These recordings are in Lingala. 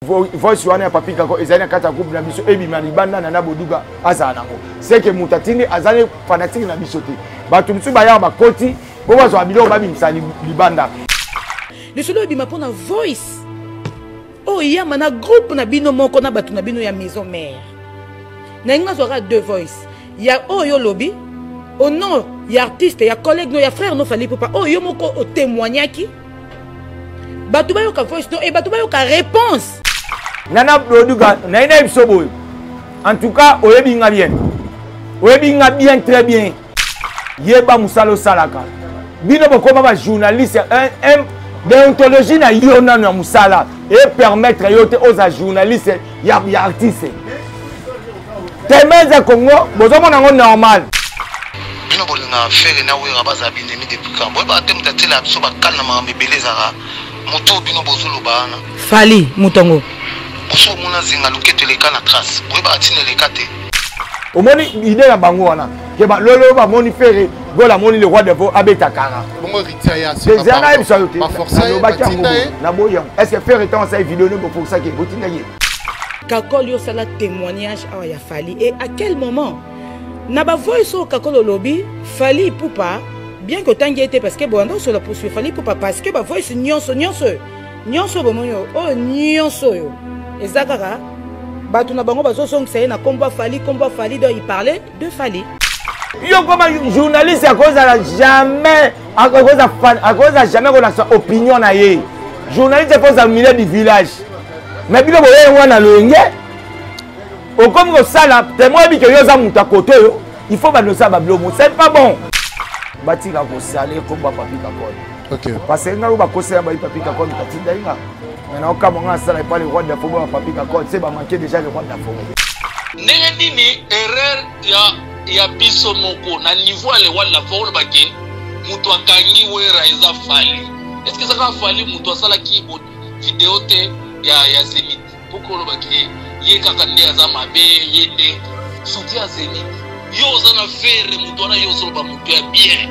voice wana ya papi kako ezali na kati ya groupe na biso ebima libanda na na boduga azala nango seke moto atindi azali fanatike na biso te bato mosusu bayaka bakoti po bazwa biloko babimisa libanda lisolo ebima mpo na voice oyo oh, eyama na groupe na bino moko na bato na bino ya maison mare nalingi nazwaka deux voice ya oyo oh, olobi au nom ya artiste ya collègue no ya frère no fali popa oyo oh, yo moko otemoignaki bato bayoka voice to e eh, bato bayoka réponse nga na produka naye nayebi so boye en tout cas oyebi nga bien oyebi nga bien très bien yeba mosala osalaka bino bokoma bajournaliste deontologie na yo nano ya mosala epermettre yo te oza journaliste ya, ya artiste temeze congo bozomona yango normal bino bolingaka fere na wera bazala binemi depuis kambo oyebaka te moto atiela biso bakale na makambo ebele ezalaka moto bino bozoloba wana fali moto yango boso omona zinga loketo eleka na trace boyebaka ntina eleka te omoni ide na bango wana keba lolo bamoni fere gola amoni le roi devo abeta kara eza nayebisa yo te nalobaki yango naboyi yango est ce que fere ntango asali video nde bofokisaki ye botindaki ye kakol yo osala témoignage awa ya fali et à quel moment na bavoice oyo kakol olobi fali ipupa bien que otangi ye te parce que boyanda osola posu fali ipupa parce que bavoice nyonso nyonso oyo nyonso oyo bomoni oyo oyo nyonso oyo eza kaka bato na bango bazozongisa ye na nkombo afali nkombo afali donc iparle de fali yo koma journaliste akozala jamais akoza jamais kolakisa opinion na ye journaliste ekozala milieu du village mais bino boye yango wana loyenge okomi kosala temo oyebi ke yo oza moto ya kote oyo il faut bando osala babilomo c'est pas bon batika kosala ekomba papikakone okay. parce que ngai oyo bakosela bayi papikakone katindai nga Mais na okamwa nga asala epa le roi de la fogo ya papi kakol se bamanke déjà le roi de la fogo ndenge nini erreur ya ya biso moko na niveau ya le roi de la fogo olobake moto akangi wera eza fali est ce que ezaka fali moto asalaki video te ya ya zenit mpoka olobake ye kaka nde aza mabe ye nde soutien ya zenit yo oza na fere moto wana yo ozoloba moto ya bien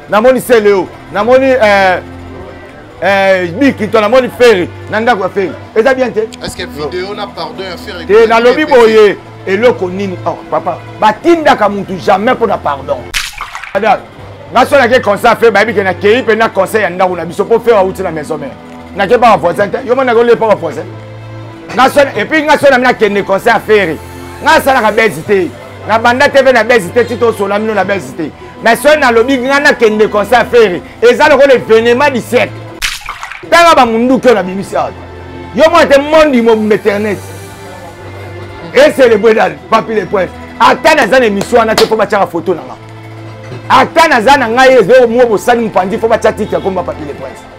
namoni seleo namoni eh, eh, bikito namoni feri na ndako ya feri eza bien te te nalobi boye eloko nini oh, papa batindaka mutu jamais mpo na pardon nga so nake conseil fe bayebi ke nakei mpe na conseil ya ndako na biso mpo fe wauti na maison mare nake mpa bavoisin te yo mona nakolie mpa bavoisin epuis nga so nami nakende conseil ya feri nga asalaka bezi te na banda te mpe na bezi te ti tosola mino na bezi te na soki nalobi ngai nakende concert feri eza lokola evenema du siècle tanga bamunduki oyo nabimisi awa yo mwana te mondi mobimba internet eselebre dal papi le prince ata naza na émission wana te mpo batyaka foto na nga ata naza na ngai ezokomwa bosani mopanzi mpo batya titre ya komba papi le prince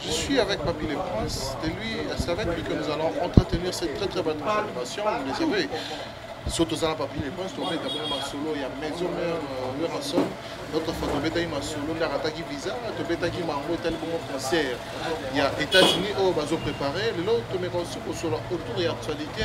Je suis avec Papy le Prince, c'est lui, c'est avec lui que nous allons entretenir cette très très bonne collaboration, vous le savez. so tozala papi le prince tobeta bongo masolo ya maison mère euh, werrason notre fois tobetaki masolo nde akataki visa tobetaki mango etali bongo concert ya états-unis oyo bazo prépare lelo tomeka osi kosolo autour ya actualité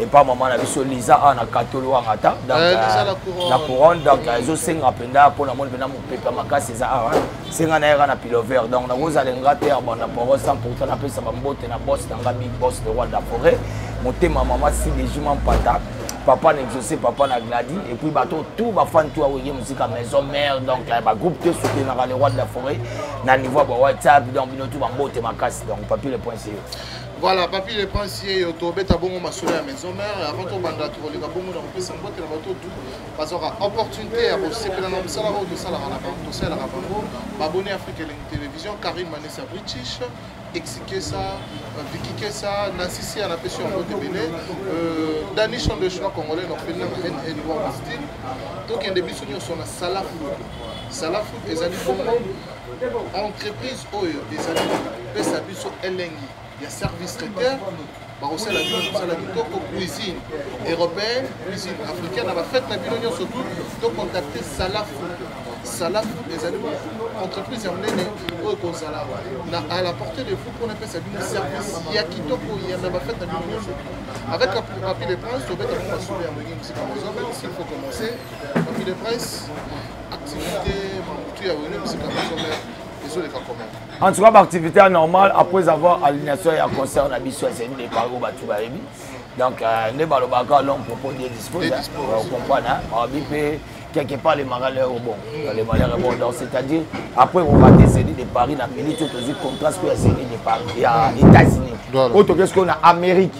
epa mama na biso liza awa na katolo wanga ata donc eh, euh, la couronne donc euh, ezosenga mpenza mpo namoni mpenza mopepe ya makasi eza awa senga na yaka na pilover donc nakozala nga te ya banda poro sans pourtant napesa bambote na bos na nga big bos le roi de la forêt motema mama sidejuma mpata papa na exaucé papa na gladi et puis bato tout bafani tout aweye mosika maison mère donc euh, bagroupe te soutenaka le roi de la forêt na niveau ya ba whatsapp donc bino tout bambote makasi donc papier le point c'est Voilà, Papi le Prince, yo tobeta bongo masolo ya maison mère, avant tobanda tokoleka bongo na kopesa mbote na bato tu bazwaka opportunité ya kosepela na mosala oyo tosalaka na bango tosalaka bango babone Afrique Elengi Télévision, Karim Manessa British, Exikesa, euh, Vicky Kesa, Nancy Sia na pesi yango te bele, euh, Danish on the choix congolais na kopeli na NN World Style, tokende biso nyonso na Salafu. Salafu ezali bongo entreprise oyo ezali kopesa biso elengi ya service traiteur bakosala bino mosala kitoko cuisine européenne cuisine africaine na bafete na bino nyonso tu tocontacte salafu salafu ezali entreprise ya monene oyo ekozala à la portée de vous mpona epesa bino service ya kitoko na bafete na bino nyonso avec la papie de prince tobeta mpo masolo ya moyenge mosika mozombe s'il faut commencer papie de prince en tout cas baactivité ya normal après avoir alignation ya concert na biso ya semi depart oyo bato bayebi donc euh, nde balobaka l'homme propose de dispose comprendre babi mpe quelque part les marins leur bon les marins leur bon donc c'est à dire après on va descendre de Paris na minute oyo tozwi contraste oyo ya semi de Paris ya États-Unis oyo tokesi koyo na Amérique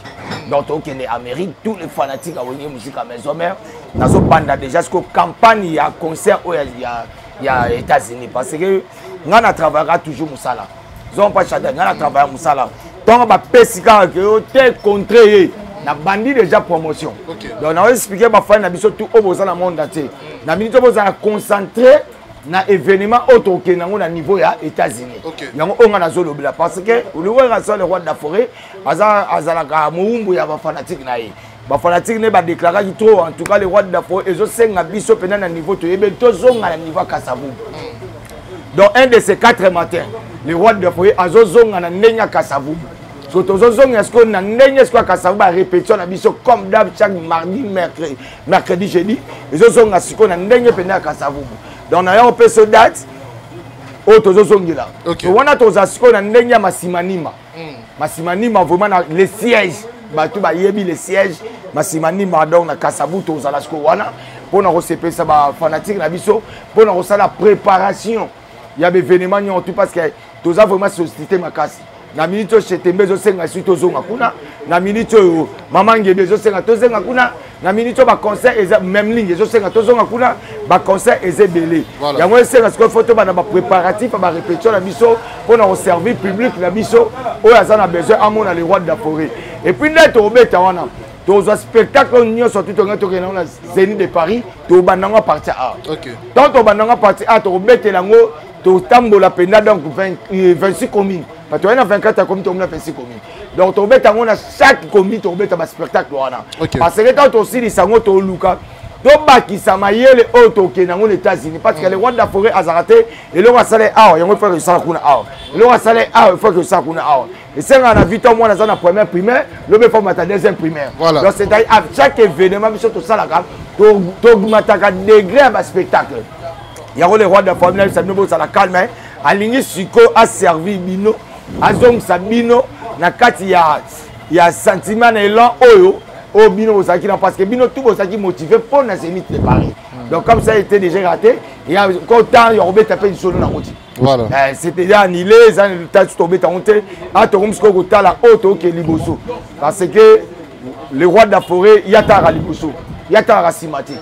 donc tokende Amérique tous les fanatiques ya wenge musique ya maison mère nazobanda déjà siko campagne ya concert oyo ya, ya états-unis parce que ngai na travaillaka toujours mosala zon mpa chada ngai na travailla mosala ntongo bapesi kaka ke yo te contre ye nabandi déjà promotion okay. donc nao explike bafani na biso tout oyo boza na monde entier na minute oyo bozala concentré na événement oyo tokokende yango na niveau ya états-unis okay. yango oyo ngai nazolobela parce que oluwekasole roi de la forêt azalaka mowumbu ya bafanatike na ye bafanatike nde badeklaraki trop en tout cas le roi de dafo ezosenga biso mpenza na niveau toyebi tozonga na niveau ya kasavubu donc un de ces quatre matin le roi de dafo azozonga na ndenge ya kasavubu so tozozongela sikoyo na ndenge sikoyo ya kasavubu barépétition na biso comme dab chaque mardi mercredi, mercredi jeudi ezozonga sikoyo na ndenge mpenza ya kasavubu donc na yango mpe so date oyo tozozongela wana toza sikoyo na ndenge ya masimanima masimanima vraiment na le siège bato bayebi le siège masimanima donc na kasabuto ozala siko wana mpo na kosepelisa bafanatike na biso mpo na kosala préparation ya baévénement nyonso tout parce que toza vraiment société makasi na miniti oyo shetembe ezosenga esi tozonga kuna na miniti oyo mama ngebe ezosenga tozenga kuna na minute oyo baconcert eza memling ezosenga tozonga kuna baconcert eza ebele yango esenga sikoyo fo tobanda bapréparatif ya barépétition na biso mpo na koservir public na biso oyo aza na besoin amona le roi de la forêt epuis nde tokobeta wana tozwa spectacle oyo nyonso tu tongai tokende yango na zeni de paris tobanda yango parti a ntango tobanda yango parti a tokobetela yango totambola mpenza donc 26 euh, commune bato wana 24 ya commune tokomi na 26 commune donc tobeta yango na chaque commune tobeta baspectacle wana parce que ntango tosilisa yango toluka tobakisa mayele oyo tokende yango na états-unis parce que mm. le rwanda forêt azalaka te eloko asala ye awa yango efaki osala kuna awa eloko asala ye awa efaki osala kuna awa esengaka na vita mwana aza na première primaire lobi efaki mata deuxième primaire donc c'est-à-dire à chaque événement biso tosalaka togumataka degré ya baspectacle yango le rwanda forêt na bisa bino bozala calme alingi sikoyo aservi bino azongisa bino na kati ya, ya sentiment na elan oyo oyo bino bozalaki na parce que bino tout bozalaki motive mpo na zenith de paris hmm. donc comme ça était déjà raté ya ko temps ya kobeta mpe lisolo na koti voilà. eh, c'était ya anile eza tatu tobeta yango te a tokomi sikoyo kotala oyo tookee liboso parce que le roi de la forêt yataka liboso yataka nsima te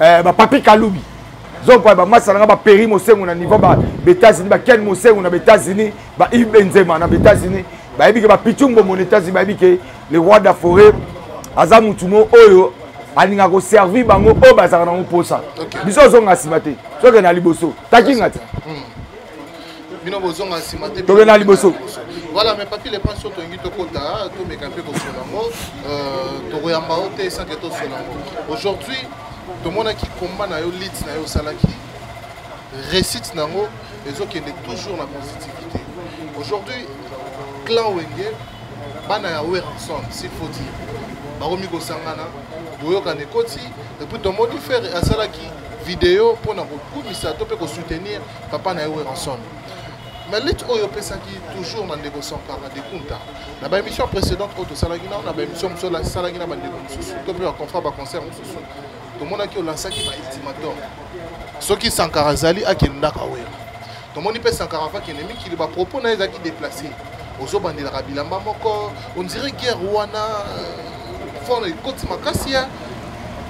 eh, ba papi kalubi zokwa ba masa nanga ba peri mosengo na niveau ba États-Unis ba ken mosengo na États-Unis ba Yves Benzema na États-Unis ba yebi ke ba pichumbo mon États-Unis ba yebi ke le roi de la forêt aza mutu mo oyo alinga ko servir bango oyo bazaka nango posa biso ozonga sima te soke na liboso takinga te hmm. bino bozonga nsima te tokenda liboso voilà mais papi lepan so tolingi tokota tomeka mpe kosola yango euh, tokoyamba yo te esanke tosola yango aujourd'hui tomonaki combat na yo lit na yo osalaki réussite na yango ezokende toujours na positivité aujourd'hui clan wenge bana ya werson s'il faut dire bakomi kosangana boyokana ekoti epuis tomoni fere asalaki video mpo na kokumisa to mpe kosoutenir papa na ye weranson mais lutte oyo opesaki toujours na ndeko sankara de kunta na baémission précédente oyo tosalaki nao na baémission mosusu asalaki na bandeko mosusu to mpe baconfra baconcert mosusu tomonaki olansaki baultimatum soki sankara azali akendaka wera tomoni mpe sankara vakende mikili bapropos na ye ezalaki déplace ozobandelaka bilamba moko ondire guerre wana euh, fona ekoti makasi ya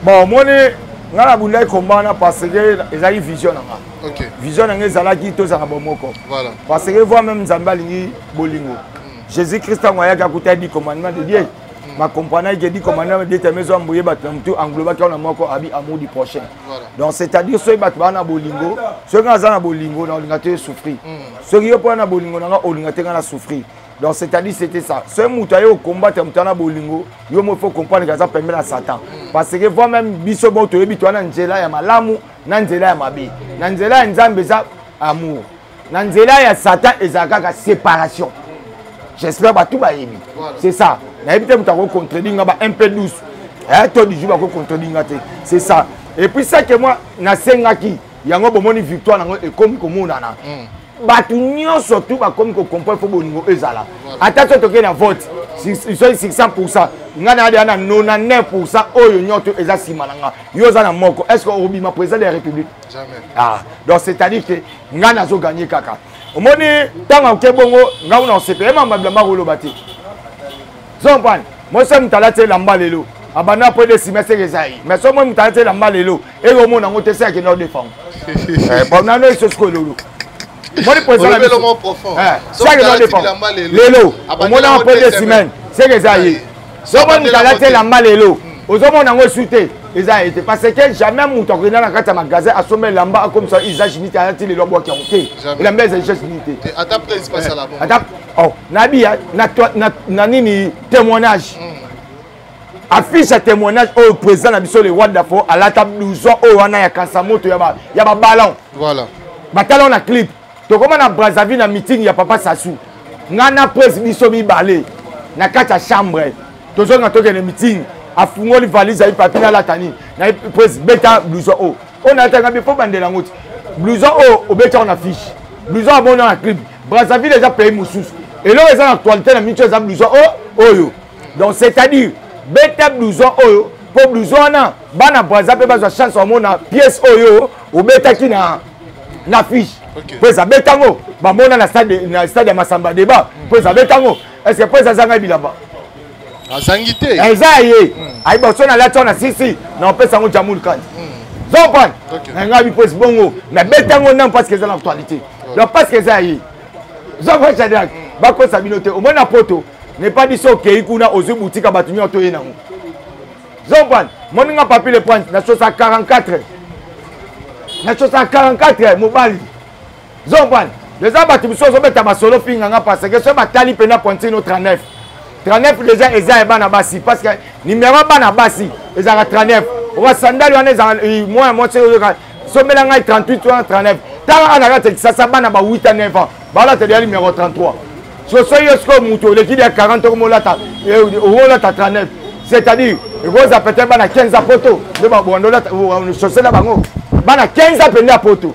bon omoni ngai nabundaki kombana parce que ezalaki vision na ngai okay. vision na ngai ezalaki tozala bomoko voilà. parce que voi meme nzambe alingi bolingo mm. jésus christ ntango ayaki akuta di commandement de dieu mm. bacomprenaki ke di commandement de teme ezwa mboye bato na motu englobaki wana moko abi amour du prochain voilà. donc c'est à dire soki bato baa na bolingo soki ngai aza na bolingo na olinga te souffrir mm. soki yo mpo na bolingo na ngai olinga te ngai na souffrir donc c'est-à-dire c'était ça soki moto aye okombatre moto ana bolingo yo mo faut comprendre ke aza pembe na satan parce que voi même biso bo toyebi to ana nzela ya malamu na nzela ya mabe na nzela ya nzambe eza amour na nzela ya satan ezala kaka séparation j'espère bato bayebi c'est ça nayebi te moto akocontredit nga ba un peu douce eh, to du jour bakocontredit nga te c'est ça et puis ça que moi nasengaki yango bomoni victoire nango ekomi komonana mm. bato nyonso tu bakomi kocomprendre mpo bolingo ezala ata so tokei na vote soki 600 pourcent ngai na yadea na 99 pourcent oyo nyonso eza nsima na ngai yo oza na moko est ce que obima président de la république ah, donc c'est à dire que ngai nazo gagne kaka omoni ntango akoke bongo ngai kuna osepele mamabila mbakoloba te zompani mosi moto alati elamba lelo abanda mpo ede sima seke eza ye mais soki moi moto alati elamba lelo eye omona yango te se akenda odefango bonano eso sikoyo lelo moni mpo ezala se akenda odefango lelo omona yango mpo ede semaine seke eza ye soki moi moto alati elamba lelo ozomona yango esu te eza ye te parce que jamais moto akokenda na kati ya magasin asomba elamba akomisa usage nite alati lelo abwaki yango te elamba eza usage nite te oh, nayebi ya na, na, na nini témoignage mm. affiche ya témoignage oyo président na biso le roi dafo alata blouson oyo wana ya kansa moto ya baballon voilà. batala o na clip tokóma na brazzaville na meeting ya papa sasu ngai na prese biso mibale na kati ya chambre tozonga tokende meeting afungoli valise ayi papi nalata nini na prese beta blouson oyo oyo nalataka mpe mpo bandela yango ti blouson oyo obetaka na fiche blouson abonda na clip brazzaville eza pays mosusu eloko eza na actualité na mitu eza blouson oyo oh, oyo donc c'est à dire beta blouson oyo mpo blouson wana bana braza mpe bazwa chance bamona pièce oyo obetaki na na fiche mpo eza beta yango bamona na stade ya masamba débat mpo eza beta yango est ce que mpo eza zanga bilamba azangi te eza ya ye hmm. ayiba so nalati wana sisi na opesa yango jamul kani hmm. zopan na ngai biposi bongo nabeti yango nano parce que eza na actualité donc parce que eza ya ye zopan shadrack hmm. bakosa bino te omoni na poto ne pas dit so okei kuna ozwi butika bato nyonso toye nango zopan moni nga papi le pointe na sosa 44 na sosa 44 mobali zoban deja bato mosusu ozobeta masolo finga nga parce que so batali mpena pointino 39 39 deja eza ya bana basi parce que nimero ya bana basi ezalaka 39 oka sandali wana ezalaka eh, moya mwasi oyoka sombela ngai 38 wana 39 tala ana kati ya kisasa bana ba 8 a 9 ans balata deja nimero 33 soso yo sikoyo moto oleki deja 40 okomolata okolata 39 c'est à dire ekozala peut-être bana 15 ya poto nde babonda olata sosela bango bana 15 ans mpenza ya poto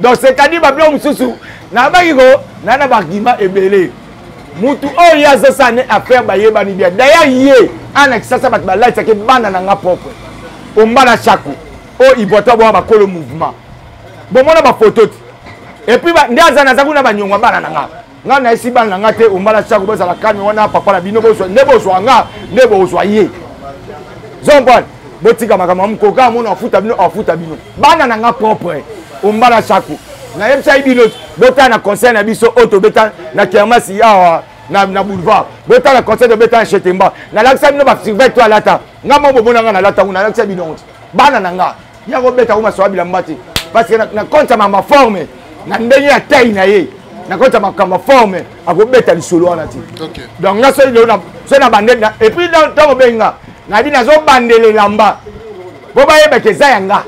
donc c'est-à-dire babiloko mosusu nabaki ko na na bargument ebele mutu oyo ye azosala ne affaire bayebani bien d'ailleurs ye ana kisasa bato balalisaki bana na nga propre ombala chaku oyo ibwata bwa bakolo mouvement bomona bafoto ti epuis nde aza naza kuna banyongo ya bana na nga nga na esi bana na nga te ombala tiako bozala kalme wana papa na bino bozwa nde bozwa nga nde bozwa ye zompane botika makambo ya mokolo kaka mona afuta bino afuta bino bana na nga propre ombala tiako nayebisaki bino botala na conseil na biso oyo tobeta na kermasi awa na, na boulevard botala conseil tobeta na chetemba nalakisa bino basurvete to alata nga mo bomona nga nalata ngo nalakisa bino bana na nga ya kobeta ko masoa bilamba te parce que na compte ya mama forme na ndenge ya taille na ye na compte ya makambo ya forme akobeta lisolo wana te donc nga soki lelo soki na bande et puis ntango obenga nayebi nazobandela elamba mpo bayebaka eza ya nga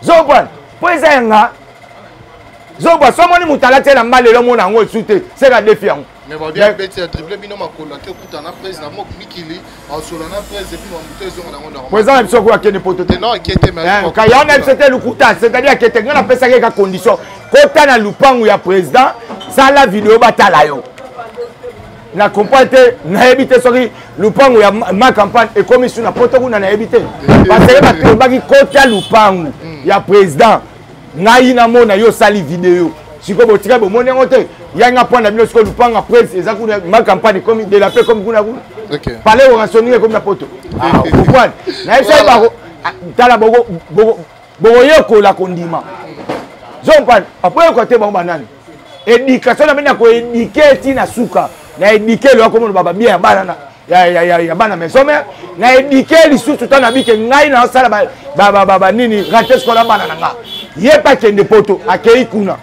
zobwana mpo eza ya nga zobwa so omoni moto alati elamba lelo omona yango esu te seka defi yango mais babi abeti ya dribble bino makolo ake okuta na prese na mok mikili asola na prese epuis mamuto ezonga nango nango eza na biso okoyo akende poto te non akete eh, kaya na biso te lokuta c'est-à-dire akete ngai napesaki eka condition kota na lupangu ya président sala video batala yo na comprendre te nayebi te soki lupangu ya ma campagne ekomi su na poto kuna nayebi te eh, eh, baseke batobaki kota lupangu hmm. ya président ngai namona yo osali video sikoyo botika bomoni yango te ya nga mpo na bino sikoyo lupanga prince eza kuna ma campagne ekomi de la paix ekomi kuna kuna palais orationninga ekomi na poto okwani nayebisaki bako tala bokoyekola kondima zompani apoyekola te bango banani éducation na bino ya koéduke ti na suka na éduke loya komona baba bien ya bana ya bana maison mère na éduke lisusu ntango nabike ngai naosala banini rate sikola bana na nga ye mpe akende poto akei kuna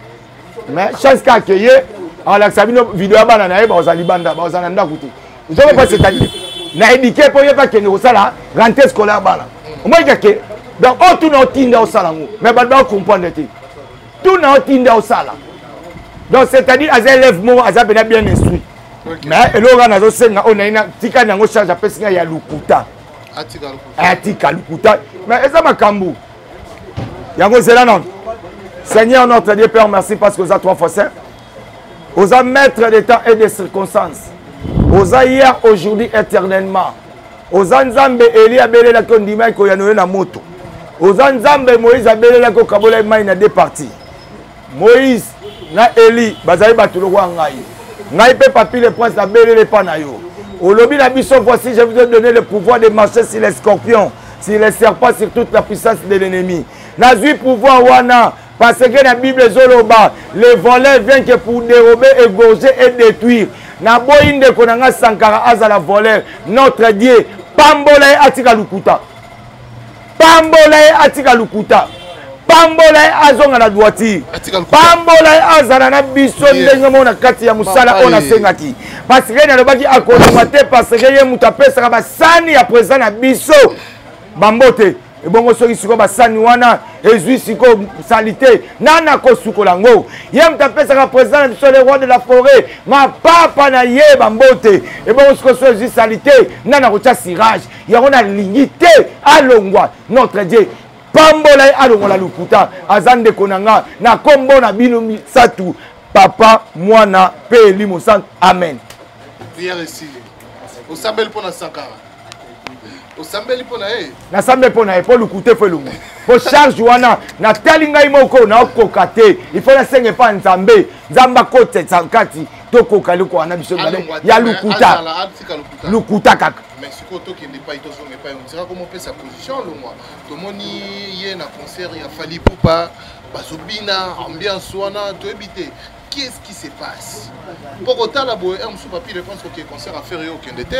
mais chance ka akeye akolakisa bino video ya bana na ye bakozala libanda bakozala na ndako te ozoko mpe c'est-à-dire na éduke mpo ye mpe akende kosala rente scolaire bana omoyika ke donc oyo tuna otinda osala yango mais bato bakokomprendre te tuna otinda osala donc c'est-à-dire aza élève moko aza mpena bien instruit mais eloko kaka nazosenga oyo naina tika nango charge apesi ngai ya lokuta atika lokuta eh, mais eza makambo yango zela nano seigneur notre dieu père merci parce que oza trois fois saint oza maître de temps et de circonstance oza hier aujourd'hui éternellement oza nzambe eli abelelaki ondimaki koyano yo na moto oza nzambe moïse abelelaki okabola ye mai na deux partie moïse na eli bazali bato lokola ngai ngai mpe papi le prince nabelele epa na yo olobi na biso voici je vous ai donné le pouvoir de marcher sur les scorpions sur les serpents sur toute la puissance de l'ennemi nazwi pouvoir wana Parce que la Bible Zoloba, les voleurs viennent que pour dérober, égorger et détruire. Na boyi ndeko na nga Sankara azala voleur. Notre Dieu, pambola ye atika lukuta. Pambola ye atika lukuta. pambola ye azonga na droitire pambola ye azala na biso ndenge moko na kati ya mosala oyo nasengaki paseke nalobaki akolongwa te paseke ye moto apesaka basani ya president na biso bambote ebongo soki sikoyo basani wana ezwi sikoyo salite nani akosukola yango ye moto apesaka président na biso le roi de la forêt mapapa na ye bambote ebongo sikoyo so ezwi salite nani akotya sirage yango nalingi te alongwa notre dieu pambola ye alongola lokuta aza ndeko na nga na kombo na bino misatu papa mwana mpe elimo santu amen priere esili osambeli mpo na sakara osambeli mpo na ye nasambeli mpo na ye mpo lukute fo elongo mpo charge wana natali ngai moko naokoka te ifo nasenga epa nzambe nzambe akotisa kati tokoka eloko wana biso mibale ya lokuta lokuta kaka mais sikoyo tokende epai tozonga epai ondira komopesa position longwa tomoni ye na concert ya fali pupa bazobina ambiance wana toyebi te qu'est-ce qui se passe mpo kotala boye un mosusu papi repense kokee concert affaire yo okende te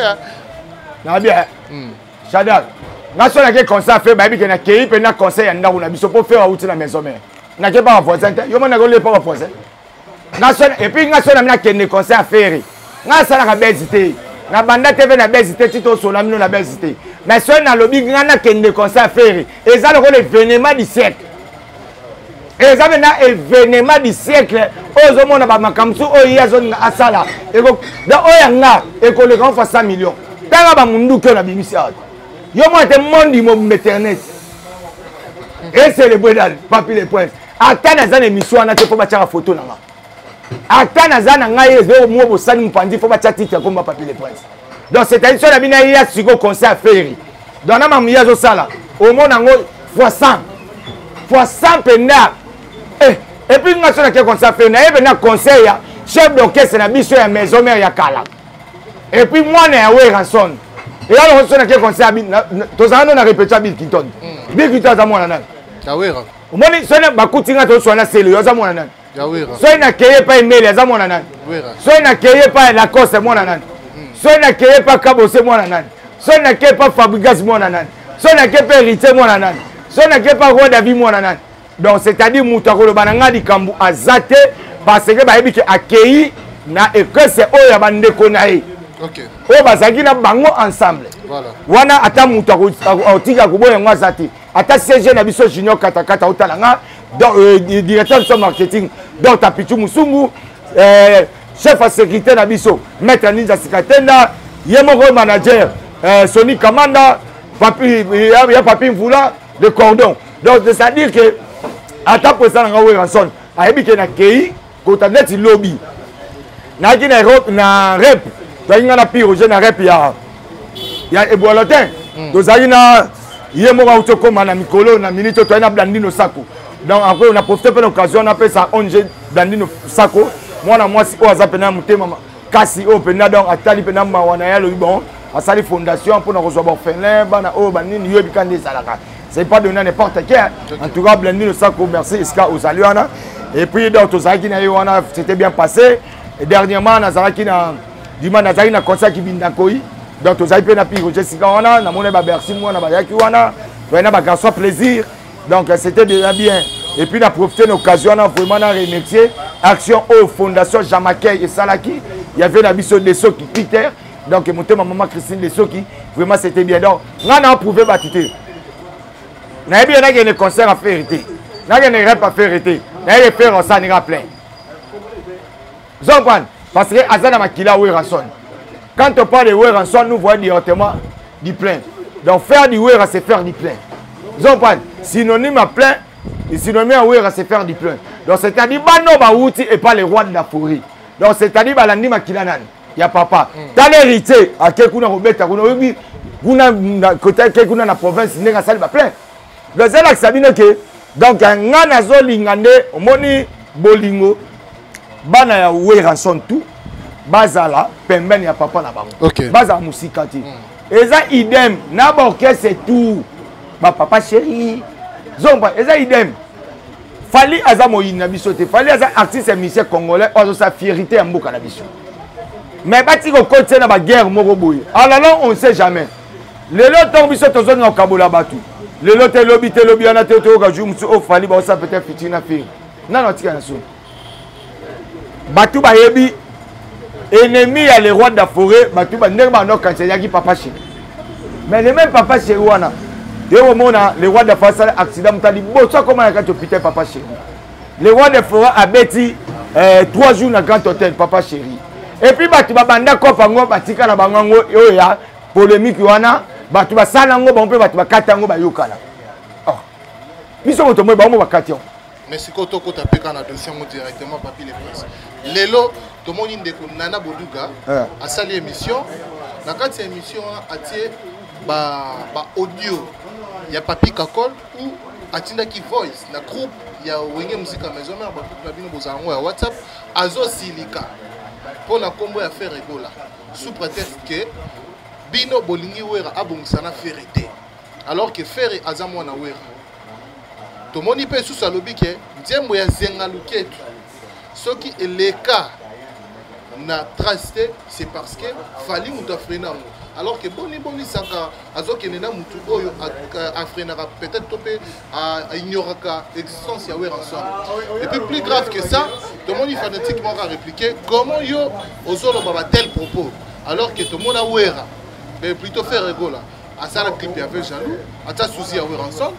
nabi shadal nga so nake concert affaire bayebi ke nakei mpe na concert ya ndako na biso mpo fere awuti na maison mare nake pa bavoisin te yo mona nakolie pa bavoisin epuis nga so nami nakende concert affaire nga asalaka bezi te nabanda te mpe na bezi te ti tosola mino na bezi te mais soki nalobi nga nakende concert affaire eza lokola evenement du siècle eza mpena evenement du siècle oyo ozomona bamakambo mosusu oyo ye azolinga asala da oyo ya nga ekoleka ofa 100 million tanga bamunduki oyo na bimisi awa yo mona te mondi mobimba internet eselebwedal papi le prince ata naza na émission wana te mpo batyaka foto na nga ata naza na ngai ezo mwa bosani mopanzi fo batya titre komba papier le prince donc c'est-à-dire so na bino aya siko conseil ya feri donc na mamuye azosala omona yango fois 100 fois 100 mpenza eh, epuis nga so nake conseil ya feri naye mpenza conseil ya chef d'orchestre na biso ya maison mare ya kala epuis mwana ya weranson eya longo so nake conseil tozala no na repetio ya bill clinton mm. bill clinton aza mwana nani omoni so bakuti nga toswana selo yo aza mwana nani soki nakeye epai mele aza mwana nani soki nakeye epai lacoste mwana nani hmm. soki nakeye epai kabose mwana nani soki nakeye epai fabrigas mwana nani soki nakeye epai heritier mwana nani soki nakeye epai roi davi mwana nani donc c'est-à-dire moto akoloba na ngai likambo aza te parce que bayebi ke akei na eklese oyo ya bandeko na ye oyo bazalaki na bango ensemble wana ata moto akotika koboya yango aza te ata cg na biso junior katakata otala nga donc euh, directeur de son marketing donc tapichu musungu euh, chef ya sécurité na biso maître ninja sikatenda ye moko manager euh, soni kamanda papi, ya, ya papi mvula de cordon donc c'est à dire que ata mpo eza na nga werrason ayebi ke na kei kota neti lobi nayaki na europe na rep toyaki ngai na piroge na rep ya ya eboalotin hmm. tozalaki na ye moko auti okoma na mikolo na minute toyaki na blandino sako donc après na profite mpe na occasion napesa ong blandino sako mwana mwasi oyo aza mpena motema kasi oyo mpena donc atali mpena mawa na ye alobi bon asali fondation mpo na kozwa baorphelin bana oyo banini yo ebika nde ezalaka c'est pas donné à n'importe qui en tout cas Blandine Osako merci Iska ozali wana et puis donc tozalaki na ye wana c'était bien passé et dernièrement nazalaki na dima nazalaki na concert kibinda koi donc tozali mpe na piko jesika wana namoni babersi mwana bayaki wana toyai na bagarçon plaisir donc c'était déjà bien et puis na profite na occasion wana vraiment na remercier action oyo fondation jamaquei esalaki ya ve na biso deso peter donc motema mama christine lesoki vraiment c'était bien donc ngai na approuve bato te nayebi ye nakende concert afere te nakende rep afere te nayeke fere osani nga plein zokwan parce que aza na makila werrason quand on parle de werrason nous voyons directement du plein donc faire du werra c'est faire du plein zokwan synonyme à plein synonyme à werra c'est faire du plein donc c'est-à-dire bano bawuti epa le roi de la forêt donc c'est-à-dire balandi makila nani ya papa tala héritier ake kuna kobeta kuna oyebi kuna kotake kuna na province ndenge asali baplein donc ezalakisa bino ke donc nga nazolinga nde omoni bolingo bana ya weranson tout bazala pembeni ya papa na bango okay. bazala mosika te mm. eza idem na baorchestre tout bapapa chéri zomba eza idem fali aza moyini na biso te fali aza artiste ya musicien congolais oyo azosa fierité ya mboka na biso mais bati kokotisa na baguerre moko boye alala ah on ne sait jamais lelo ntango biso tozolinga kokabola bato lelo te lobi te lobi wana te toyoka jour mosusu ofali baosa peut-être fitiri na feri nano atika na soni bato bayebi ennemi ya le roi de la forêt bato ndenge banda okanisa eyaki papa chéri mais le même papa chéri wana ye komona le roi de la forêt asala accident moto aliboso akoma na kati hôpital papa chéri le roi de forêt abeti euh, trois jours na grand hôtel papa chéri epuis bato babanda kopa yango batika na bango yango oyo ya polémique wana bato basala yango bango mpe bato bakata yango bayokana oh. biso moto moi bango bakati yango mais sikoyo tokota mpe kaka na dossier yango directement papi le prince lelo tomoni ndeko nana boduga eh. asali émission na kati ya émission wana atie baaudio ba ya papi kakol ou atindaki voice na groupe ya wenge musika maison mare bagroupe na bino bozala yango ya whatsapp azosilika mpo na nkombo ya fere ebola sous prétexte ke bino bolingi wera abongisa na fere te alors que fere aza mwana wera tomoni mpe lisusu alobi ke nzembo ya zenga luketu soki eleka na trace te c'est parce que fali moto afrena yango alors que boni boni saka azokende na motu oyo afrenaka peut-être to mpe aignoraka existence ya wer ensemble et puis plus grave que ça tomoni fanatique moko arépliqué comment yo ozoloba ba tel propos alors que tomona wera mais plutôt faire egola asala clip ya ve jaloux atia susi ya weranson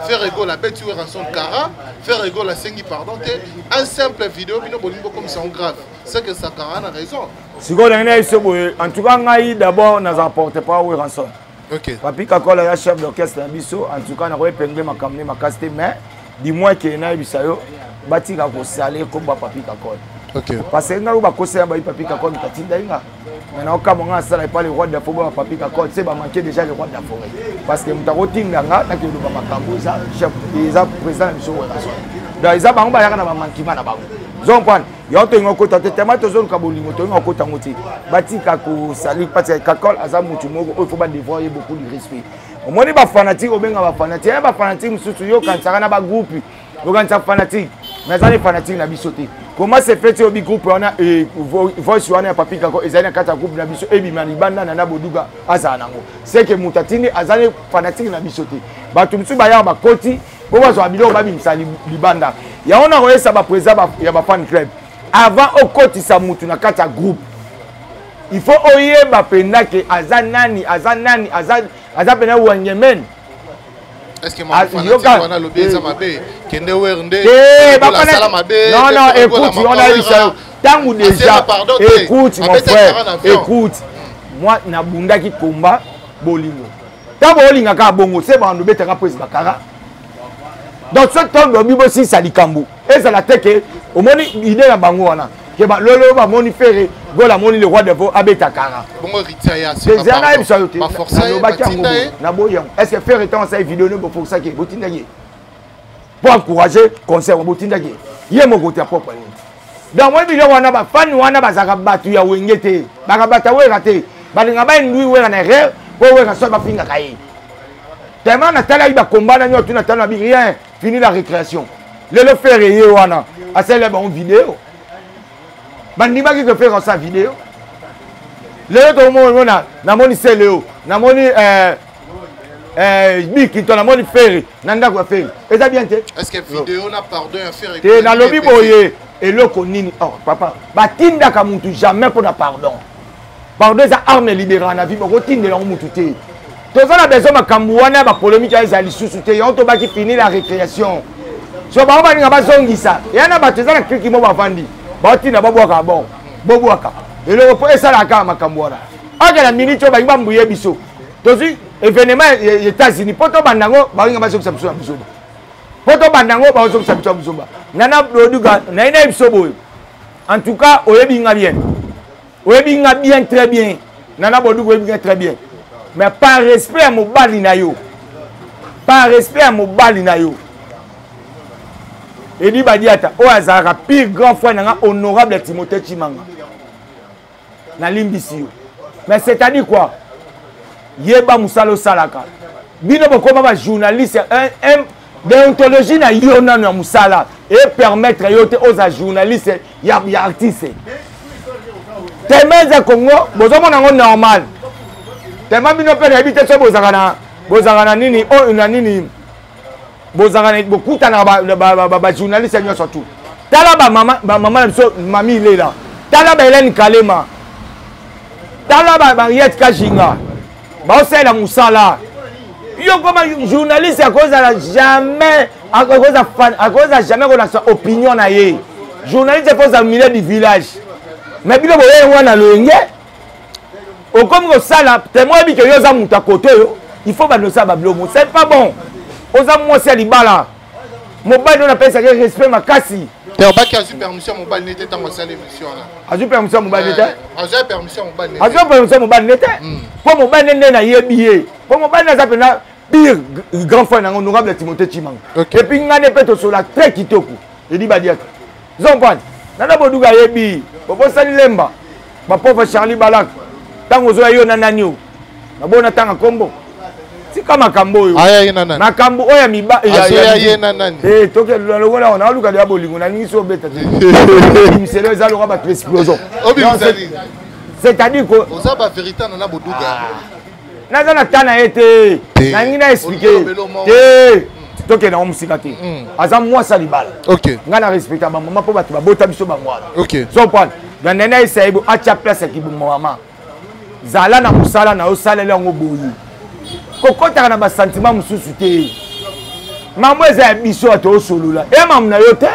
faire egol abeti weranson kara faire egol asengi pardon te un simple video bino bolingi bokomisa yango grave seke sakara na raison sikoyo ndenge na biso boye en tout cas ngai d'abord naza porte par weranson okay. papi kakola ya chef d'orchestre na biso en tout cas nakoyepengle makambo ne makasi te mais du moins ke nayebisa yo batika kosala ekomba papi kakola okay. parce que ngai oyo bakosela bayi papi kakola mitati ndai nga mais naokamwa nga asala epa le roi de la forêt bapapi kakot se bamanke déjà le roi de la forêt parce que moto akotinda nga nakeloba makambo eza chef eza président na biso werason donc eza bango bayaka na bamankima na bango zompane yango tolinga okota te tema tozoluka bolingo tolinga okota yango te batika kosali patika kakol aza motu moko oyo fo badevoir ye beaucoup du respect omoni bafanatike obenga bafanatike ya bafanatike mosusu yo okanisaka na bagroupe okanisa fanatique mais aza nde fanatique na biso te comment se fait oyo bigroupe wana eh, voice wana ya papi kako ezali na kati ya groupe na biso ebima libanda na na boduga azala nango seke moto atindi aza nde fanatique na biso te bato mosusu bayaka bakoti mpo bazwa biloko babimisa libanda yango na koyesa baprésident ya bafan club avant okotisa motu na kati ya groupe il faut oyeba mpenza ke aza nani aza nani aza mpenza wangemene Est-ce ah, que mon fanatique wana lobi eza mabe kende wer nde eh, la sala mabe non non écoute on a eu ça tangu déjà écoute mon frère écoute moi na bundaki combat bolingo tango olingaka bongo se bando betaka pwes bakara donc soki tondo bibo sisa likambo ezala te ke omoni idee na bango wana ke balolo bamoni fere gol amoni le roi devo abeta kara dezia nayebisa yo te nalobaki yango naboyi yango est ce que fere ntango asali video ne bofokisaki ye botindaki ye mpo encourage concert botindaki ye ye moko te apropre nini donc oyebi biloko wana bafani wana bazalaka bato ya wenge te bakabata wera te balinga baindui wera na erreur mpo wera soki bafingaka ye tellement natalaki bakomba na nyotu na talo na bi rien fini la récréation lelo fere ye wana asalela bango video bandimaki ke fere asa video lelo tokomona namoni seleo namoni eh, eh, bikinto namoni fere na ndako ya fere eza bien te te nalobi boye eloko nini oh, papa batindaka mutu jamais mpo na pardon pardon eza arme libera na vie bokotindela yango motu te toza na besoin makambo wana ya bapolemike ezala lisusu te yango tobaki fini la récréation so bango baninga bazongisa ya na bato eza na kriki mo bavandi baotinda babwaka bon bobwaka eloko mpo esalaka kaka makambo wana oke na minute oyo bangi bambuye biso tozwi événement ya états-unis mpo tobanda yango baolinga bazongisa biso na buzoba mpo tobanda yango bazongisa biso ya buzoba nana doduga naye naye biso boye en tout cas oyebi nga bien oyebi nga bien très bien nana boduku oyebi nga très bien mais par respect ya mobali na yo par respect ya mobali na yo edi badiata oyo azalaka pire grand frère na nga honorable ya timothée chimanga nalimbisi yo mais c'est-à-dire quoi yeba mosala osalaka bino bokoma bajournaliste deontologie na yo nano ya mosala epermettre yo te oza journaliste ya, ya artiste tema eza congo bozomona yango normal tema bino mpe nayebi te so bozalaka na bozalaka na nini oyo oh, na nini bozanga na bokutana ba journaliste nyonso tu tala bamama na biso mami ilela tala ba helene kalema tala ba mariette kajinga baosalela mosala yo koma journaliste akozala jamais akozala jamais kolakisa opinion na ye journaliste ekozala milieu du village mais bino boyei wana loyenge okomi kosala temoin yebi ke yo oza moto ya kote oyo il faut bando osala babilomo c'est pas bon oza mwasi ya libala mobali oyo napesaki respect makasi obaki azwi permission ya mobali nete ntango asali émission wana azwi permission ya mobali nete eh, azwi permission ya mobali azwi permission ya mobali nete hmm. mpo mobali nende nayebi ye mpo mobali naza mpenza pire grand frère nango honorable timothée chimanga epuis ngai nde mpe tosola très kitoko edi badiaka zompani nana boduga ayebi bobosani lemba bapova charlie balak ntango ozoya yo na nani oyo naboyi natanga nkombo tika makambo oyo makambo oyo ya mibalongola eh, ona aluka deya bolingo nalingisi obeta te bimiselo eza lokola bato explosion c'est-à-dire que oza ba vérité na na boduga ah. naza na ta na ye te nalingi na explike te tokenda ngo mosika te hmm. aza mwasi ya libala ngai na respecta bamama mpo bato babota biso bango wana zoprendre dandani ayesa ye atya place ya kibongo mama zala na mosala na yo saleli yango boye kokɔtaka na basantima mosusu te mambo eza ya biso ya toosolola eya mamu na yo te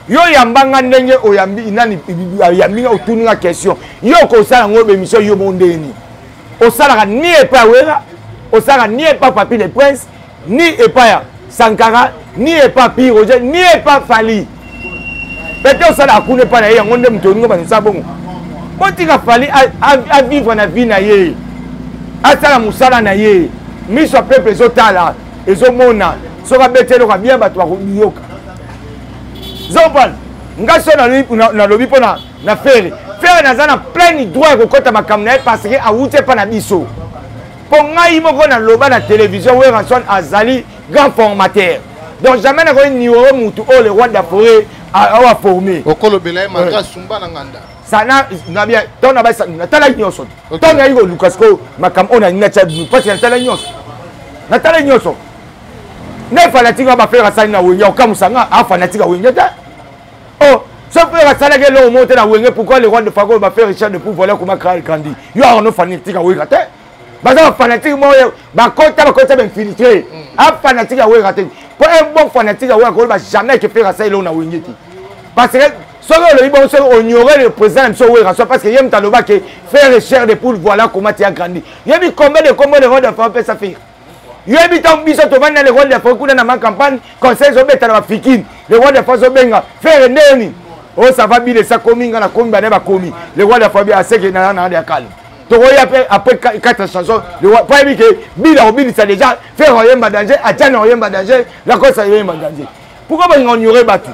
yo oyamba nga ndenge oyambi nani oyambi nga otuni nga question yo okosala yango obemisio yo mondeni osalaka ni epai ya wera osalaka ni epai papi le prince ni epai ya sankara ni epai pi roger ni epai fali pete osalaka kuna epai na ye yango nde moto olingo banosala bongo botika fali avivre na vie na ye asala mosala na ye miso ya peuple ezotala ezomona soki abeti eloko ya bien bato bakoyoka zopana ngai so nalobi mpo na na fere fere naza na pleine droit ya kokɔta makambo na ye parce que awuti epa na biso mpo ngai moko naloba na télévision weranson azali grand formateur donc jamais nakoki nioro mutu oyo le roi de la forêt awa forme okolobela ye malgre asumba na nganda sana nabia ntango na basa natala nyonso ntango nayi koluka sikoyo makambo oyo nalingi natya bino mpasi natala nyonso natala nyonso nde fanatike ya bafere asali na wengi akokamusa nga afanatika wengi te oh ce frère asalaki eloko moko te na wenge pourquoi le roi de fago bafe richard depuis vola kuma kral grandi yo arno fanatique aweka te baza bafanatique moko bakota bakota bainfiltre afanatique mm. aweka te mpo un bon fanatique aweka koloba jamais ke frère asali eloko na wenge te parce que soki olobi bongo soki oniore le président na biso owera so parce que ye moto aloba ke frère cher de poule voilà comment ti agrandi yebi combien de combo de rode fa opesa frère yoyebi ntango biso tovandi na le roi de fond kuna na ma campagne conseil ezobeta na bafikini le roi de fond azobenga fere nde yoni o oh, sava bile sakomi nga nakomi bane bakomi le roi de fond bi aseke na na ya kala tokoya mpe après quatre chanson mpo ayebi ke bile akobilisa déjà fere oyemba danger atiana oyemba danger lakosa oyemba danger pourquoi balinga onyore bato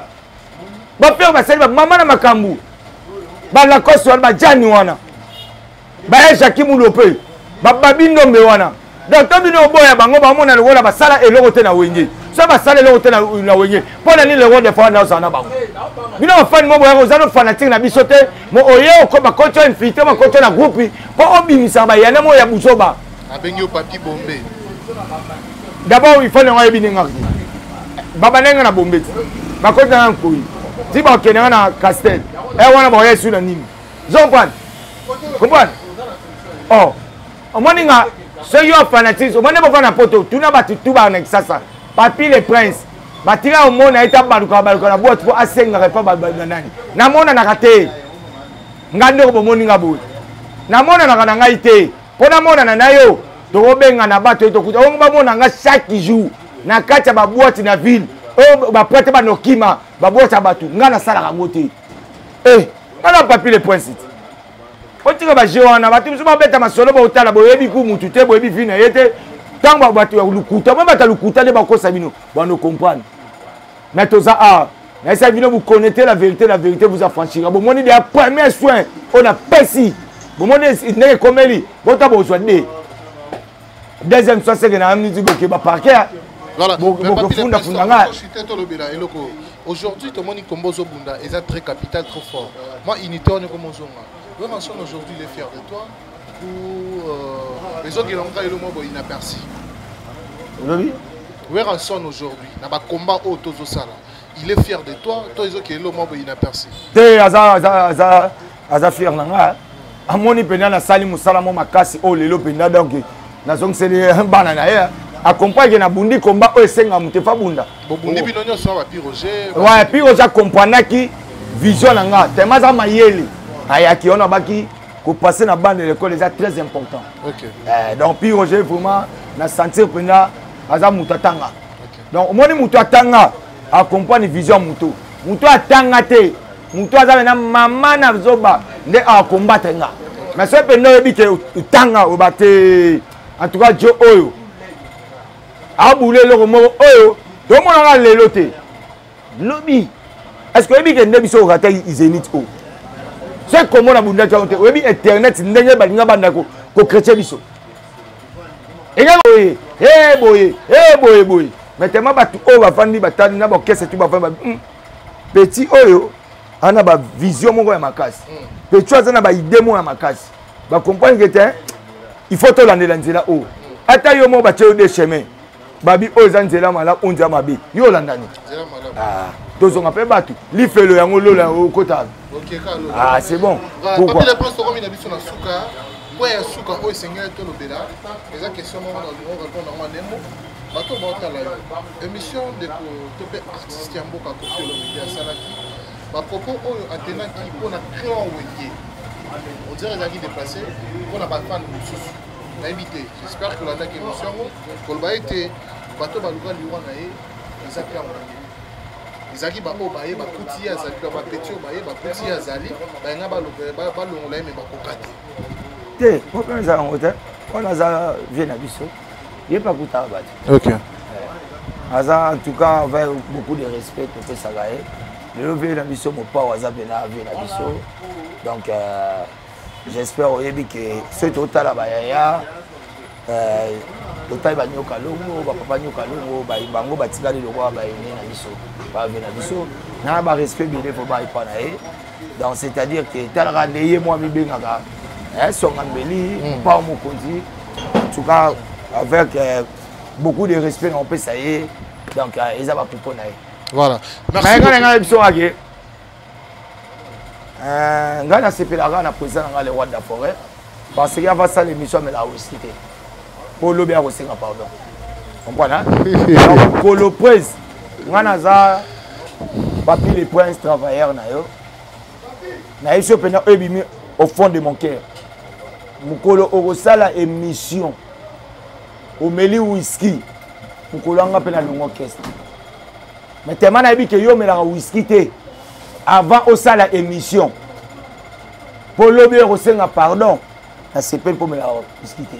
bafere basali bamama na makambo balakosi wana bajani wana baya jaki mulope bababi ndombe wana donc to bino oboya bango bamona lokola basala eloko te na wenge so basala eloko te na wenge mpo na nini loko defa wana ozala na bango bino bafani mo boyaka oza no fanatike na biso te mo oye bakoti o infiltre bakoti na groupe mpo obimisaka bayana mo ya buzoba abengi yo papi bombe d'abord ifani yango ayebi ndenge ngaki babanda nga na bombe ti bakoti nanga nkoyi ti bakende nga na castel e wana bakoya esu na nini ozo comprendre comprendre oh omoni nga soki yo fanatisme omoni bova na poto tuna bato tu baa na kisasa papi le prince batika omona ye tabaluka baluka na boite mpo asengaka epa babaluka nani namonanaka te nga ndeko bomoni nga boye namonanaka na ngai te mpo namonana na yo tokobengana bato ye tokuta ongo bamona nga chaque jour na kati ya baboite na ville oyo baprete banokima baboite ya bato ngai nasalaka yango te eh nga na papi le prince te otika baje wana bato mosusu babeta masolo baotala boyebi ku mutu te boyebi vi na ye te ntango bato ya lokuta mwa bato ya lokuta nde bakosa bino bano comprendre mais toza awa nayesaki bino bokonete la vérité la vérité vous affranchira bomoni deya premier soin oyo napesi bomoni ndenge ekomeli bota bozwa de deuxième soit seke na amniti boke baparke bokofunda funda ngai tolobela eloko aujourd'hui tomoni kombo ozobunda eza très capital trop fort moi unité wana ekoma ozonga yo mason aujourd'hui les fier de toi ou euh, ezokela ngo kaka elo mwa boye inaperci olobi werrason aujourd'hui na bacombat oyo tozosala il est fier de toi to ezokela elo mwa boye inaperci te aza aza aza aza fier na nga amoni mpenza nasali mosala mo makasi oyo oh, lelo mpenza donc nazongiseli eh, bana na ye eh. acomprendre ke nabundi komba oyo esenga moto efa bunda wa pi roger acomprandaki vision na nga tema aza mayele ayaki wana abaki kopase na bande lekole eza très important eh, donc pi roger vraiment na sentir mpenza aza moto atanga donc omoni moto atanga acomprendre vision ya moto moto atanga te moto aza mena mama na zoba nde akombatre nga mais soki mpenza oyebi ke otanga oba te en tout cas jo oyo abula eloko moko oyo tomonaka lelo te lobi est ce que oyebi ke nde biso orata izenit oyo soki komona bundaki yango te oyebi internet ndenge balinga banda kokretye biso enge boye e boye e boye boye mais tellement bato oyo bafandi batali na baokese tu bafandi petit oyo aza na bavision moko ya makasi mm. petit oyo aza na baide moko ya makasi bacomprendre ke te il faut tolandela nzela oyo ata yo moko batye yo de chemin babi oyo eza nzela malamu oyo nzela mabe yo olanda nini ah, tozonga mpe bato lifelo yango lola yango okota ah, c'est bon pourquoi point ya suka oyo esengeli tolobela eza question moko na lingo répondre yango anembo bato baotala yo émission ndeko to mpe artiste ya mboka kofi olomide asalaki bapropos oyo atenaki mpo na clan wenge odire ezalaki déplace mpo na bafane mosusu nayebi te j'espère kolandaki émission yango koloba ete bato baluka liwa na ye eza clan wenge ezalaki baoyo baye bakuti ye azali bapeti oyo baye bakuti ye azali bayenga balongola ye me bakoka te te problème eza yango te wana aza vie na biso ye mpe akutaka bato ok eh, aza en tout cas avec beaucoup de respect topesaka ye lelo vie na biso mopao aza mpe na vie na biso donc euh, j'espère oyebi ke soki totala bayaya euh, totali banyoka longo bapapa nyoka longo bango batikali lokola bayene na biso bave na biso na barespect bile mpo baepa na ye donc c'est à dire que talaka nde ye mwa mibengaka eh, songa mbeli mm. pao mokonzi en tout cas avec euh, beaucoup de respect na opesa ye donc euh, eza bapupo na ye voilà ngai ngai ngai biso ngake ngai nasepelaka na président na ngai le roi de la forêt parce que ava sala émission amela whisky te po lobi akosenga pardon comprendre donc kolo prince ngai naza papi le prince travailleur na yo nayebisi yo mpenza oyo ebimi au fond de mon cœur mokolo okosala émission omeli whisky mokolo yanga mpe na longo keste mais tellement nayebi ke yo omelaka whisky te avant osala émission mpo lobi oyo kosenga pardon nasepeli mpo mela miski te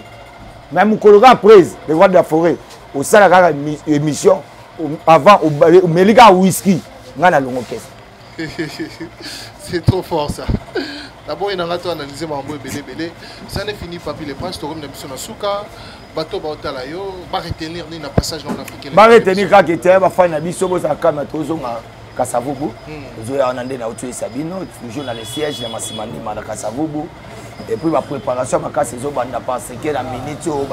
mais mokolo kaka prise le roi de la forêt osala kaka émission avant omeli kaka whisky ngai nalongo kesa c'est trop fort ça naboyi na ngai to analyse makambo ebele ebele ça ne fini papi le prince tokomi na biso na suka bato baotala yo baretenir nini na passage na afrique baretenir kaka ete bafani na biso bozala kama tozonga kasavubu hmm. ozoya wana nde nauti oyesa bino toujours na le siège ya masimandima na kasavubu epuis bapréparation makasi ezobanda parseke na minute oyo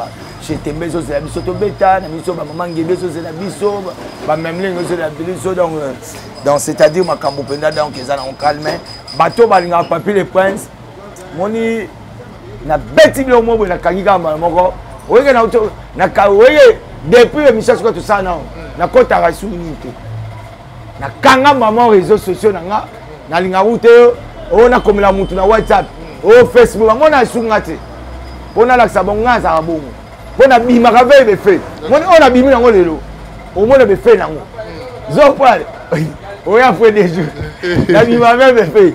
chetembe ezozela biso tobeta na biso bamama ngebe ezozela biso bamemlingi ezozela biso donc euh, donc c'est à dire makambo mpenza donc eza nango calme bato balingaka papi le prince moni na beti bino mobwe na kangi kaka mbala moko oyeke na oyeke depuis émission soki tosala nao nakotaka esuki nini te nakanga mama réseau sociaux na nga nalingaka ute oyo nakomela motu na whatsapp oyo facebook bango na esuki nga te mpo nalakisa bango ngai azalaka bongo mpo nabimaka veye befe moni oyo nabimi nango lelo omona befe nango zopale oya fue de jour nabima veye befe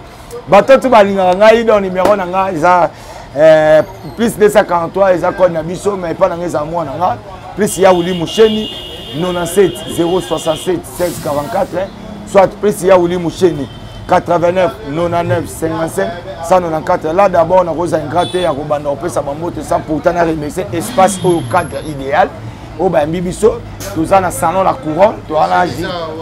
bato tu balingaka ngai don numero na ngai eza eh, plus 243 eza code na biso mais epai na ngai eza mwana ngai plus ya wili musheni 97 067 1644 soit plus ya wili musheni 89 99 55 194 là d'abord nakozala ingrate ya kobanda kopesa bambote sans pourtant na remercie espace oyo cadre idéal oyo bayambi biso toza na salon la couronne toza na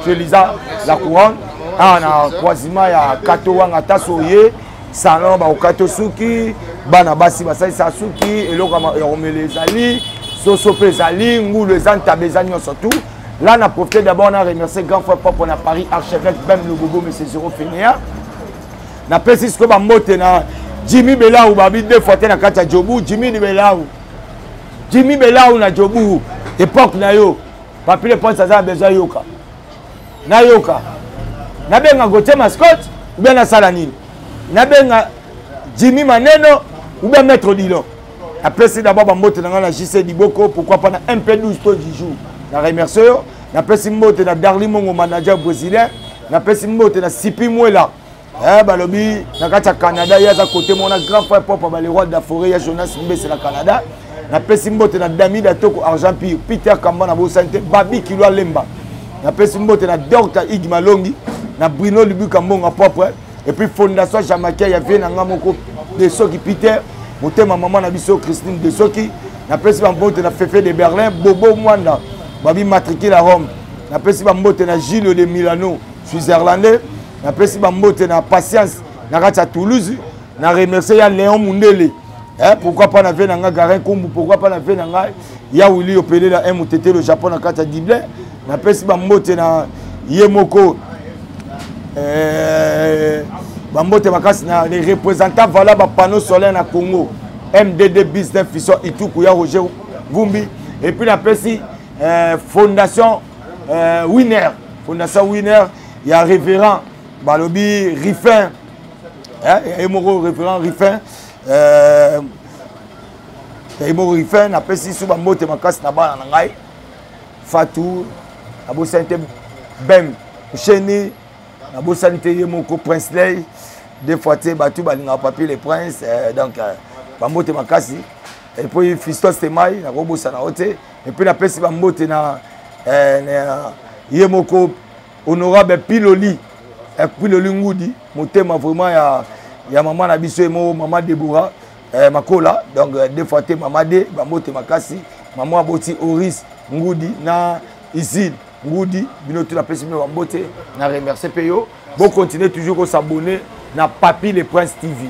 je lisa la couronne awa na croisement ya kato wanga taso oye salon bakokata suki bana basi basalisa suki eloko ya komela ezali soso mpe ezali ngulu eza ntaba eza nyonso tout là na profite d'abord na remercier grand frère propre na paris archevêque bem lobobo monsieur zero fenia napesi sikoyo bambote na jimmy belau babi deux fois te na kati ya jobu jimmy belau jimi belau na jobu epoque na yo papile ponce aza na besoin yoka nayoka nabenga gotie mascot oubien nasala nini nabenga jimi maneno oubien maître dilon napesi d'abord bambote na ngai na jc diboko pourquoi pas na mp 12 to dijour na remercie yo napesi mbote na darli mongo manager brésilien napesi mbote na sipi mwela eh, balobi na kati ya canada ye aza kote mona grand frère propre ba le roi de la forêt ya jonas mbese na canada napesi mbote na damida toko argent pire peter kamba na bosani te babi kilo alemba napesi mbote na docta igi malongi na bruno libuka mbonga propre epuis fondation jamakia ya vie na ngai moko de soki peter motema mama na biso christine de soki napesi bambote na fefe de berlin bobo mwanda babi matricule ya rome napesi bambote na gilio de milano switzerlandais napesi bambote na patience na kati ya toulouse na remercie ya léon mundele eh, pourquoi pas na vie na ngai garin kombu pourquoi pas na vie na ngai ya wili opelela un motetelo japon na kati ya dible napesi bambote na ye moko eh, bambote makasi na les représentants vala bapanneau solaire na congo mdd business fison ituku ya roger vumbi epuis napesi eh, fondation eh, winner fondation winner ya révérend balobi rifin ye moko révérend rifin euh, ye moko rifin napesi su bambote makasi na bana na ngai fatou nabosani te bem sheni nabosani te ye moko prince ley des fois te bato balingaka papier le prince euh, donc euh, bambote makasi epuis fistos temai nakobosana yo te epuis napesi bambote na, eh, na ye moko honorable piloli eh, piloli ngudi motema vraiment ya, ya mama na biso ye moko mama debora eh, makola donc eh, deux fois te mama de bambote makasi mama aboti oris ngudi na isine ngudi bino tu napesi bino bambote na remercie mpe yo bocontinue toujours kosabonne na papi le prince tv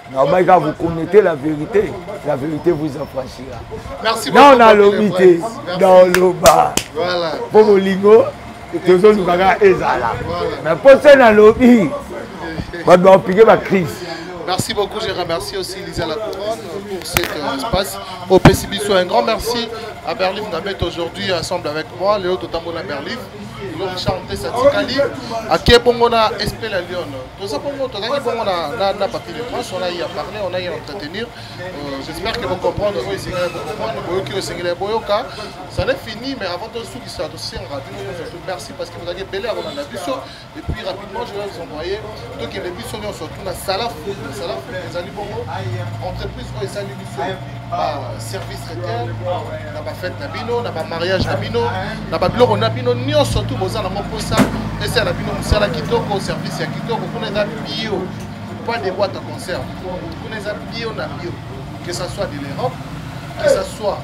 nalobaki kaka vous connaissez la vérité la vérité vous affranchira non nalobi te naoloba mpo bolingo tozoluka kaka ezala mais mpo se nalobi bato baopike bacrise Merci beaucoup, je remercie aussi Lisa La Couronne pour cet euh, espace. Au PCBISO, un grand merci à Berlin Namet aujourd'hui ensemble avec moi, Léo Totambo La Berlin, Richard Tessatikali, à Kebongona, Espé La Lyon. toza bongo tozalaki bongo na papier de presse on a ya parler on a ya entretenir euh, j'espère que bocomprendre oyo esengeli bocomprendre boyoki oyo esengeli ya boyoka ça n'est fini mais avant tosukisa tosengaka bino nyonso tout merci parce que bozalaki ebele ya kolanda biso et puis rapidement je vais vous envoyer tokende biso nyonso tuna salafu salafu ezali bongo entreprise oyo esali service traiteur na bafete na bino na bamariage na bino na babiloko na bino nyonso tu boza na moposa esala na bino mosala kitoko service ya kitoko kuna eza bio pas de boite à conserve kuna eza bio na bio que ça soit de l'europe que ça soit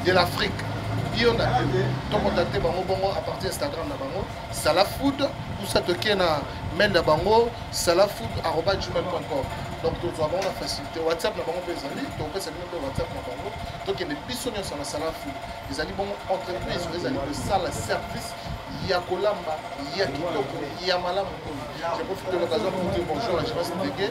de l'afrique bio na bio tokota te bango bongo à partir instagram na bango sala food usa tokie na mail na bango sala food arroba gmail com donc tozwa bango na facilité whatsapp na bango mpe ezali tokopesa bino mpe whatsapp na bango tokende biso nyonso na sala food ezali bongo entreprise oyo ezali kosala service ya kolamba ya kitoko ya malamu oyo je profite de l'occasion pour dire bonjour à Jérôme Sénégué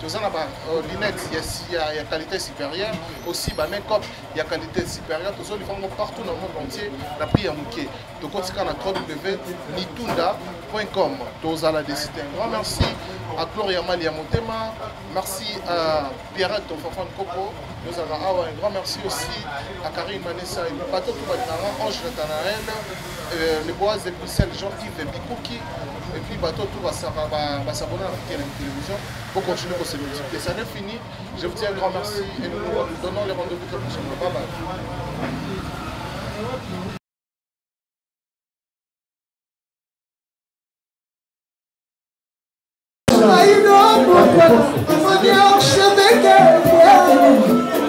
toza na ba euh, lunettes ya, ya, ya qualité supérieure aussi ba make-up ya qualité supérieure tozolifa yango partout na monde entier na prix ya moke tokotika na www.nitunda com tozala desite un grand merci à gloria mali ya motema merci à pierrette ton fanfan coco tozalaka awa un grand merci aussi à karine manessa bato tobalinanga ange natanael euh, le boise de bruxelles jean yves bikuki et puis bato tout basaka basabona na fiti ya na télévision pour continuer kosepelisa te ça n'est fini je vous dis un grand merci et nous nous donnons les rendez-vous très prochainement bye bye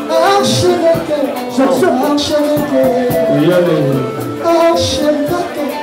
Archevêque, Archevêque, Archevêque,